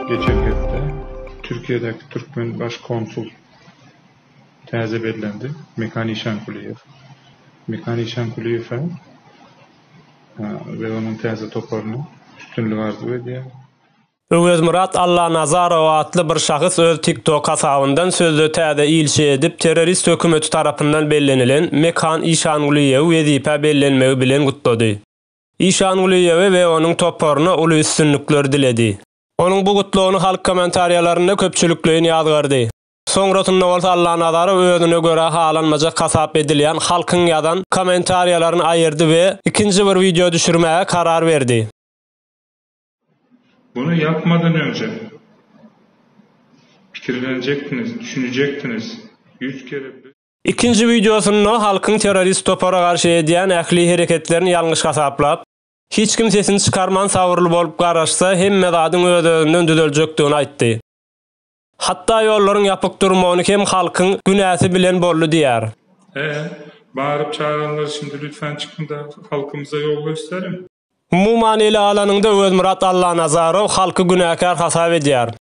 Geçen hepde Türkiýedäki türkmen baş konsul täze bellendi, Mekan Işankuliýew. Mekan Işankuliýewe we onuň täze toparyna üstünlik arzuw edýärin. Öwezmyrat Allanazarow atly bir şahs öz TikTok hasabyndan sözde täze ilçi edip, terrorist hökümeti tarapyndan bellenilen Mekan Işanguliýewi wezipä bellenmegi bilen gutlady. Işan Gulyýewe we onuň toparyna uly üstünlikler diledi. Onuň bu gutlagyny halk kommentariýalarynda köpçülikleýin ýazgardy. Soňrasynda bolsa Allanazarow özüne görä halanmajak hasap edilýän halkyň ýazan kommentariýalaryny aýyrdy we ikinji bir wideo düşürmäge karar berdi. Muny ýapmadan öňje pikirlenjekdiňiz, düşünjekdiňiz. Ýüz kere biz. Ikinji wideosynda halkyň terrorist topara garşy edýän ähli hereketlerini ýalňyş hasaplap, hiç kim sesini çykarman sabyrly bolup garaşsa hemme zadyň öz-özünden düzeljekdigini aýtdy. Hatda ýollaryň ýapyk durmagyny hem halkyň günäsi bilen boldy diýýär. He, baryp çaganlar şindi lütfan çykyňda halkymyza ýol gösteriň. Umuman ele alanyňda Özmyrat Allanazarow halky günäkär hasap edýär.